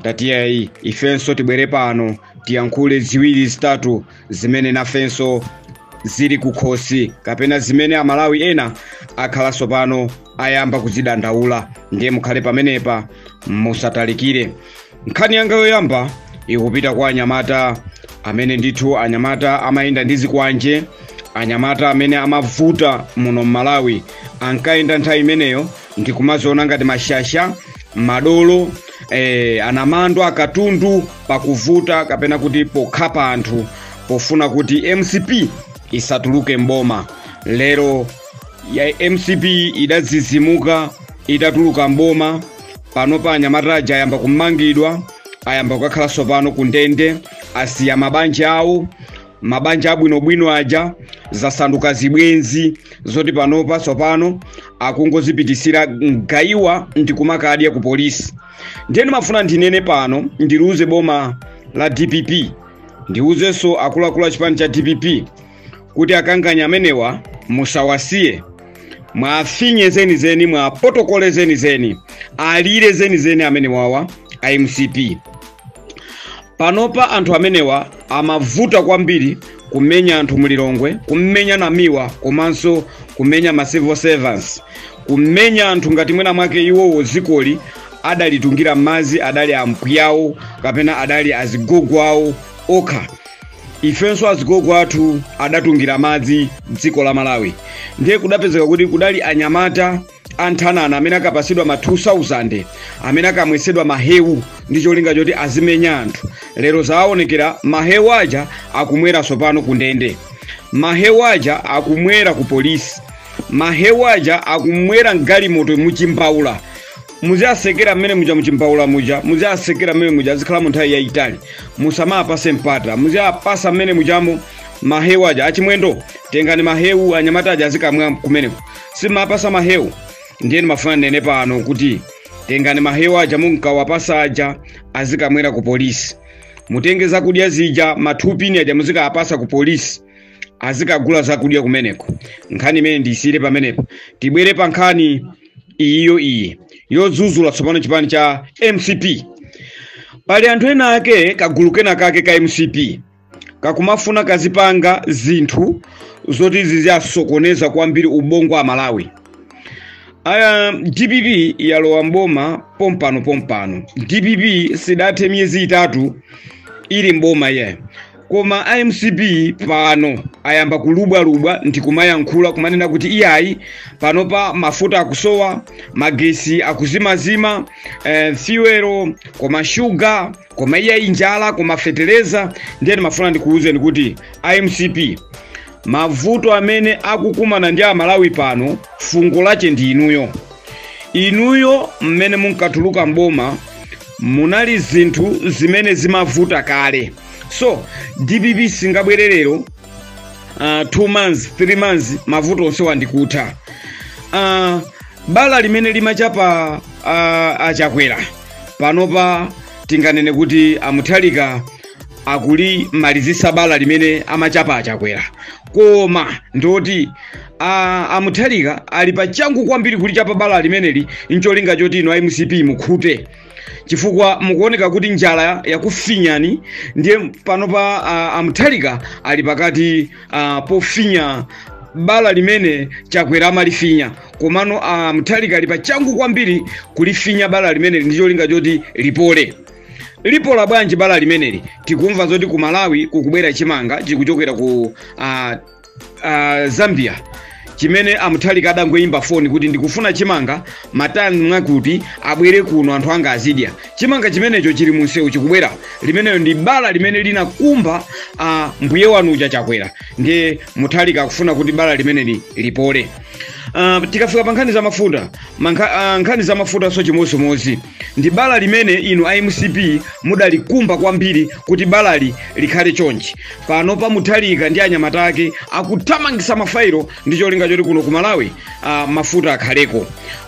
ndati yayi ifenso tibwere pano tiyankhule ziwiri zitatu zimene nafenso zili kukhosi kapena zimene amalawi ena akhala tsopano ayamba kuzidandaula ndiye mukhale pamenepa musatalikire nkhani yanga yoyamba ikupita kwa anyamata amene ndithu anyamata amayenda ndi zikwanje anyamata amene amavuta muno m'malawi ankayenda nthawi imeneyo ndikumaziona ngati mashasha madolo eh, anamandwa akatundu pakuvuta kapena kuti pokhapa anthu pofuna kuti mcp isatuluke mboma lero ya mcp idazizimuka itatuluka mboma panopa anyamata aja ayamba kumangidwa ayamba kukakhala tsopano ku ndende asiya mabanja awo mabanja abwinobwino aja zasanduka zibwenzi zoti panopa tsopano akungozipitisira mgayiwa ndikumakadya ku polisi ndiye ndimafuna ndinene pano ndiliuze boma la dpp ndiuzenso akuluakulu a chipani cha dpp kuti akanganya amenewa musawasiye muwafinye zenizeni muwapotokole zenizeni alire zenizeni amenewawa a mcp panopa anthu amenewa amavuta kwambiri kumenya anthu mulilongwe kumenya Namiwa komanso kumenya ma civil servants kumenya anthu ngati mwina mwake iwowo dzikoli adalitungira madzi adali ampwiyawo kapena adali azigogo awo okha ifenso azigogo athu adatungira madzi dziko la malawi ndiye kudapezeka kuti kudali anyamata anthanana amene akapasidwa ma 2000 amene akamwesedwa mahewu ndi cholinga choti azimenya anthu lero zaonekera mahewu aja akumwera sopano ku ndende mahewu aja akumwera ku polisi mahewu aja akumwera mgalimoto muchimbaula muziwatsekera mmene muja muchimbaula muja muziwatsekera mmene muja azikhala mu nthawi yayitali musamawapase mpata muziwapasa mmene mujamo mahewu aja achimwendo tengani mahewu anyamata aja azikamwa kumeneko simumawapasa mahewu ndiye ndimafuna ndinene pano kuti tengani mahewu aja munkawapasa aja azikamwera ku polisi mutenge zakudya zija mathupini aja muzikawapasa ku polisi azikagula zakudya kumeneko nkhani imene ndiyisiyire pamenepo tibwere pa nkhani iyi yo iyi yodzuzula tsopano chipani cha mcp pali anthu ena ake kagulu kena kake ka mcp kakumafuna kazipanga zinthu zoti ziziasokoneza kwambiri ubongo wa amalawi aya dpp yalowa mboma pompano pompano dpp sidathe miyezi itatu ili mboma iyayi koma a mcp pano ayamba kulubwalubwa ndi kumayankhula kumanena kuti iyayi panopa mafuta akusowa magesi akuzimazima eh, fuel koma shuga koma iyayi njala koma feteleza ndiye ndimafuna ndikuwuzeni kuti a mcp mavuto amene akukumana ndi amalawi pano fungo lache ndi inuyo inuyo mmene munkatuluka mboma munali zinthu zimene zimavuta kale so dpp singabwere lero uh, two months three months mavuto onse wa ndi kutha uh, bala limene limachapa uh, achakwera panopa tinganene kuti amuthalika akulimalizisa bala limene amachapa achakwera koma ndoti a- amuthalika ali pa changu kwambiri kulichapa bala limeneli ncholinga choti inu a mcp mukhute chifukwa mukuoneka kuti njala yakufinyani ndiye panopa a- amuthalika ali pakati a, pofinya bala limene chakwera amalifinya komano a muthalika ali pachangu kwambiri kulifinya bala limeneli ndi cholinga choti lipole lipola bwanji bala limeneli tikumva zoti ku malawi kukubwera chimanga chikuchokera ku uh, uh, zambia chimene amuthalika adangoyimba foni kuti ndikufuna chimanga matani mwakuti abwere kuno anthu anga azidya chimanga chimenecho chili munsewu chikubwera limenelo ndi bala limene linakumba uh, mbuye wanu uja chakwera ndiye muthalika akufuna kuti bala limeneli lipole Uh, tikafika pa nkhani za mafuta mankha, uh, nkhani za mafutanso chimodzimodzi ndi bala limene inu a mcp mudalikumba kwambiri kuti balali likhale chonchi panopa muthalika ndi anyamata ake akuthamangisa mafairo ndi cholinga choti kuno ku malawi uh, mafuta akhaleko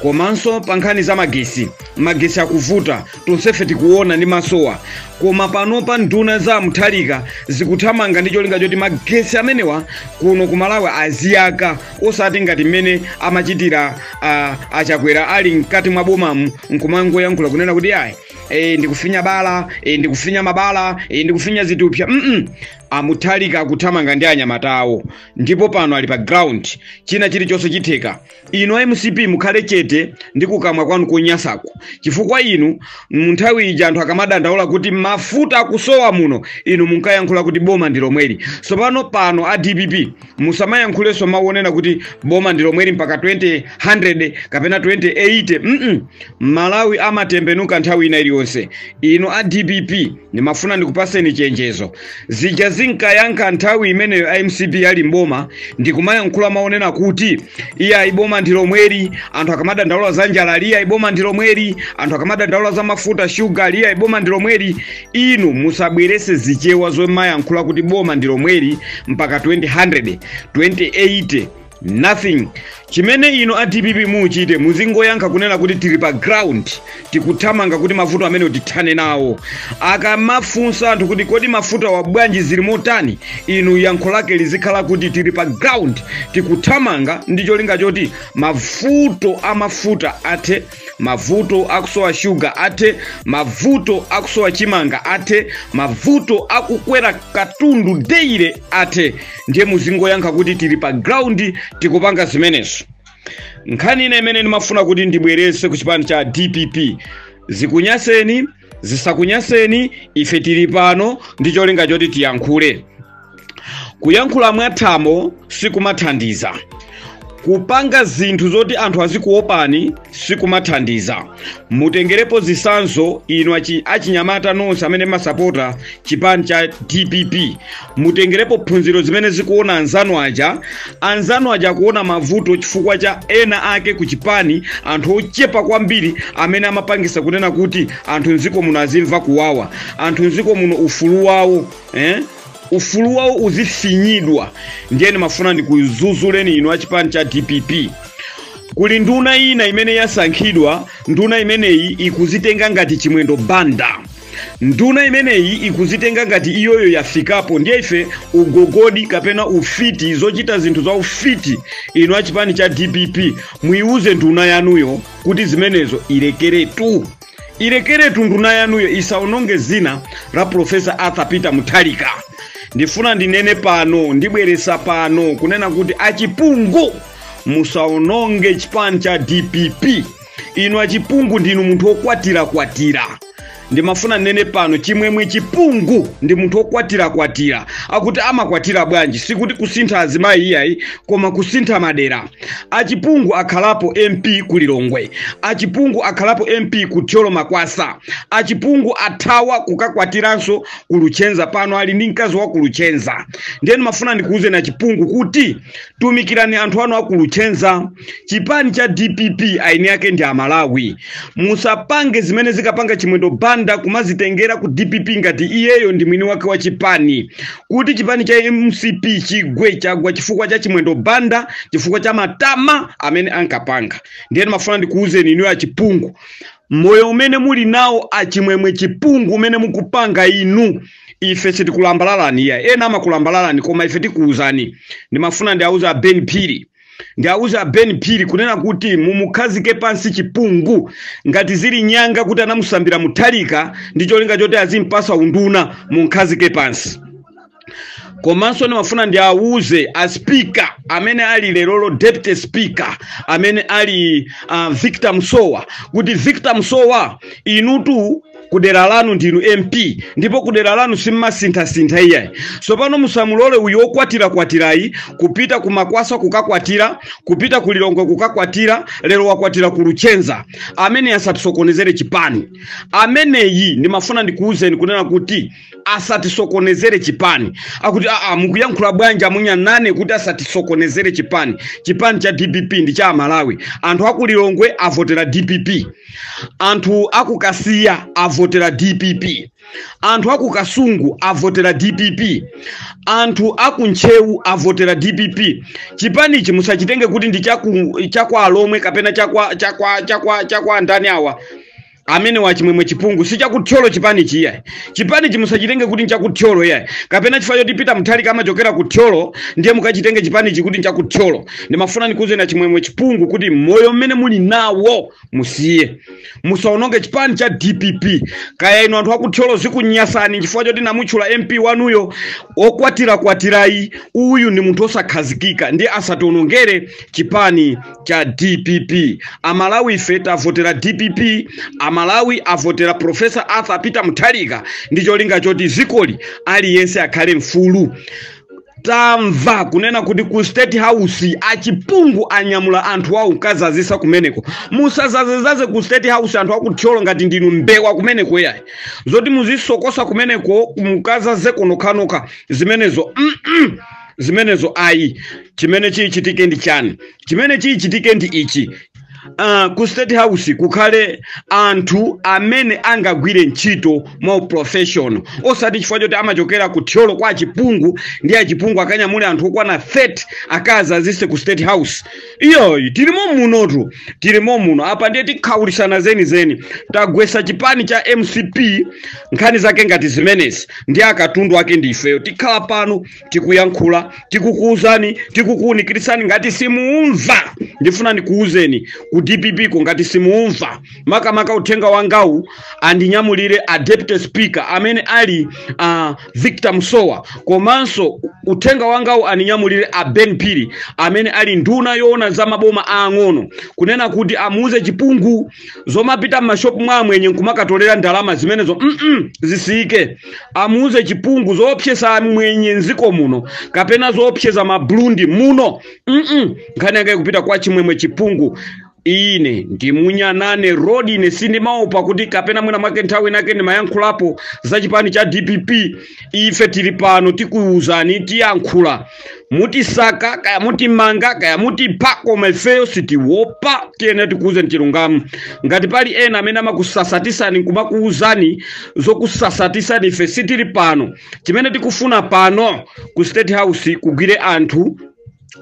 komanso pa nkhani za magesi magesi akuvuta tonsefe tikuona ndi masowa koma panopa nduna za muthalika zikuthamanga ndi cholinga choti magesi amenewa kuno ku malawi aziyaka osati ngati mmene amachitira ah, achakwera ali mkati mwa bomamu nkumangoyankhula kunena kuti ayi e, ndikufinya bala e, ndikufinya mabala e, ndikufinya zithupsa mm amuthalika akuthamanga ndi anyamata awo ndipo pano ali pa ground china chilichonse chitheka inu a mcp mukhale chete ndi kukamwa kwanu konyasaku chifukwa inu mu nthawi ija anthu akamadandaula kuti mafuta akusowa muno inu munkayankhula kuti boma ndi lomweli tsopano pano a dpp musamayankhulenso mawu onena kuti boma ndi lomweli mpaka 2000 kapena 2080 mm malawi amatembenuka nthawi ina iliyonse inu a dpp ndimafuna ndikupaseni chenjezo zija zimene ankayankha nthawi imeneyo a mcp ali mboma ndikumayankhula maonena kuti iyayi boma ndi lomweli anthu akamadandaula za njala ali iyayi boma ndi lomweli anthu akamadandaula za mafuta shuga ali iyayi boma ndi lomweli inu musabwerese zichewa zomayankhula kuti boma ndi lomweli mpaka 2000 2080 nothing chimene inu a dpp muchite muzingoyankha kunena kuti tili pa ground tikuthamanga kuti mavuto amene tithane nawo akamafunsa anthu kuti kodi mafutawa bwanji zili motani inu yankho lake lizikhala kuti tili pa ground tikuthamanga ndi cholinga choti mavuto amafuta athe mavuto akusowa shuga athe mavuto akusowa chimanga athe mavuto akukwera katundu daily athe ndiye muzingoyankha kuti tili pa ground tikupanga zimenezo nkhani ina imene ndimafuna kuti ndibwerese ku chipani cha dpp zikunyanseni zisakunyanseni ife tili pano ndi cholinga choti tiyankhule kuyankhula mwathamo sikumathandiza kupanga zinthu zoti anthu azikuopani sikumathandiza mutengerepo zisanzo inu achinyamata nonse amene mumasapota chipani cha dpp mutengerepo phunziro zimene zikuona anzanu aja anzanu aja akuona mavuto chifukwa cha ena ake ku chipani anthu ochepa kwambiri amene amapangisa kunena kuti anthu mdziko muno azimva kuwawa anthu mdziko muno ufulu wawo eh? ufulu wawo uzifinyidwa ndiye ndimafuna ndikudzudzuleni inu a chipani cha dpp kuli nduna ina imene yasankhidwa nduna imeneyi ikuzitenga ngati chimwendo banda nduna imeneyi ikuzitenga ngati iyoyo yafikapo ndiye ife ugogodi kapena ufiti zochita zinthu za ufiti inu achipani cha dpp muyiwuze nduna yanuyo kuti zimenezo ilekeretu ilekeretu nduna yanuyo isaononge dzina la profesa arthur peter mutharika ndifuna ndinene pano ndibweresa pano kunena kuti achipungu musaononge chipani cha dpp inu achipungu ndinu munthu wokwatirakwatira ndimafuna nnene pano chimwemwe chipungu ndi munthu wokwatirakwatira akuti amakwatira bwanji sikuti kusintha azimayi iyayi koma kusintha madera achipungu akhalapo mp ku lilongwe achipungu akhalapo mp ku thyolo makwasa achipungu athawa kukakwatiranso ku luchenza pano ali ndi mkazi wa ku luchenza ndiye ndimafuna ndikuwuzeni achipungu kuti tumikirani anthu anu akuluchenza chipani cha dpp eni ake ndi amalawi musapange zimene ankapanga chimwendo banda kumazitengera ku dpp ngati iyeyo ndi mwini wake wa chipani kuti chipani cha mcp chigwe chagwa chifukwa cha chimwendo banda chifukwa cha matama amene ankapanga ndiye ndimafuna ndikuwuzeni inuyo achipungu moyo umene muli nawo achimwemwe chipungu umene mukupanga inu ife sitikulambalalani iyayi ena amakulambalalani koma ife tikuwuzani ndimafuna ndiawuze a ben phiri ndiawuze a ben phiri kunena kuti mumukhazike pansi chipungu ngati zili nyanga kuti anamusambira mutharika ndi cholinga choti azimpasa unduna mumkhazike pansi komanso ndimafuna ndiawuze a speaker amene ali lerolo deputy speaker amene ali a victor msowa kuti victor msowa inutu kudera lanu ndinu mp ndipo kudera lanu simmasinthasintha iyayi ndiye pano musamulole uyu wokwatirakwatirayu kupita ku makwasa kukakwatira kupita ku lilongwe kukakwatira lero wakwatira ku luchenza ameneyi asatisokonezere chipani ameneyi ndimafuna ndikuwuzeni kunena kuti asatisokonezere chipani akuti aa mukuyankhula bwanji amunya nane kuti asatisokonezere chipani chipani cha dpp ndi cha amalawi anthu aku lilongwe avotera dpp anthu aku kasiya avotera dpp anthu aku kasungu avotera dpp anthu aku ntcheu avotera dpp chipani ichi musachitenge kuti ndi chaku- chakwa alomwe kapena chakwa chakwa chakwa chakwa ndani awa amenewa achimwemwe chipungu si cha ku thyolo chipani ichi iyayi chipani ichi musachitenge kuti ncha ku thyolo iyayi kapena chifukwa choti peter mutharika amachokera ku thyolo ndiye mukachitenge chipani ichi kuti ncha ku thyolo ndimafuna ndikuuzeni achimwemwe chipungu kuti moyo umene muli nawo musiye musaononge chipani cha dpp kaya inu anthu a ku thyolo zikunyasani chifukwa choti ndamutchula mp wanuyo okwatirakwatirayu uyu ndi munthu osakhazikika ndiye asatiwonongere chipani cha dpp amalawi ife tavotera dpp amalawi avotera profesa arthur peter mutharika ndi cholinga choti dzikoli aliyense akhale mfulu tamva kunena kuti ku state house a chipungu anyamula anthu awo nkukadzadzitsa kumeneko musadzadzedzadze ku state house anthu a ku thyolo ngati ndinu mbewa kumeneko iyayi zoti muzisokosa kumeneko mukadzadzeko nokhanokha zimenezo mm -mm. zimenezo ayi chimene chichitike ndi chani chimene chichitike ndi ichi Uh, ku state house kukhale anthu amene angagwire ntchito mwa uprofessional osati chifukwa choti amachokera ku thyolo kwa a chipungu ndiye a chipungu akanyamule anthu okwana 30 akadzadzitse ku state house iyayi tilimo munotu tilimo muno apa ndiye tikhawulisana zenizeni tagwetsa chipani cha mcp nkhani zake ngati zimenezi ndi akatundu ake ndi ifeyo tikhala pano tikuyankhula tikukuuzani tikukuwunikirani ngati simuumva ndifuna ndikuuzeni ku dpp ko ngati simuumva makamaka uthenga wangawu andinyamulire a deputy speaker amene ali a victor msowa komanso uthenga wangawu andinyamulire a ben phiri amene ali nduna yoona za maboma aang'ono kunena kuti amuwuze chipungu zomapita m'mashopu mwa amwenye nkumakatolera ndalama zimenezo mm -mm, zisiyike amuuze chipungu zoopseza amwenye mdziko muno kapena zoopseza maburundi muno mm nkhani yanga ikupita kwa chimwemwe chipungu ine ndi munyanane road ine sindimaopa kuti kapena mwina mwake nthawi inayake ndimayankhulapo za chipani cha dpp ife tili pano tikuwuzani tiyankhula mutisaka kaya mutimanga kaya mutipha koma ifeyo sitiwopa tiyene tikuuze chilungamo ngati pali ena amene amakusasatisani nkumakuuzani zokusasatisani ife sitili pano chimene tikufuna pano ku state house kugwire anthu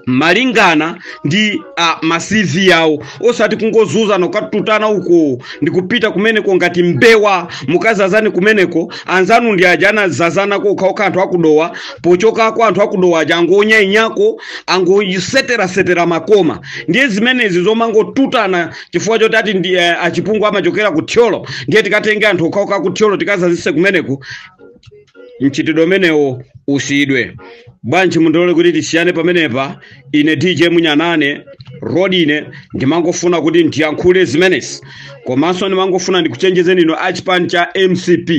malingana ndi uh, ma CV yawo osati kungozuzana ukatutana uko ndikupita kumeneko ngati mbewa mukazazani kumeneko anzanu ndi aja anazazanako okhaokha anthu akudowa pochoka kwa anthu akudowa aja angonyayinyako angoseterasetera makoma ndiye zimenezi zomangotutana chifukwa choti ati ndi eh, achipungu amachokera ku thyolo ndiye tikatenge anthu okhaokha aku thyolo tikazazise kumeneko mchitidwe umenewo usiyidwe bwanji mundilole kuti tisiyane pamenepa ine dj munyanane lodi ine ndimangofuna kuti ndiyankhule zimenezi komanso ndimangofuna ndikuchenjezeni inu achipani cha mcp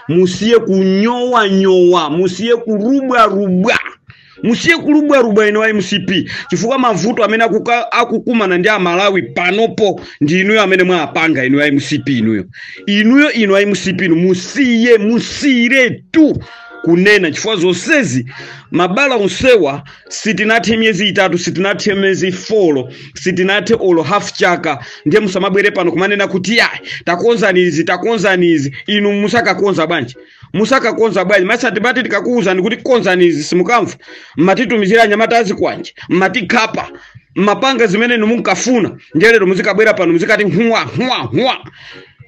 musiye kunyowanyowa musiye kulubwalubwa musiye kulubwalubwa inu a mcp chifukwa mavuto amene akuka- akukumana ndi amalawi panopo ndi inuyo amene mwapanga inu a mcp inuyo inuyo inu a mcp inu musiye musiyiretu kunena chifukwa zonsezi mabala onsewa sitinathe miyezi itatu sitinathe miyezi folo sitinathe olo half chaka ndiye musamabwere pano kumanena kuti iyayi takonzani izi takonzani izi inu musakakonza bwanji musakakonza bwanji mmesa timati tikakuwuzani kuti konzani izi simukamva mmatitumizira anyamata azikwanje mmatikhapa mmapanga zimene inu munkafuna ndiye lero muzikabwera pano muzikati huwa huwa huwa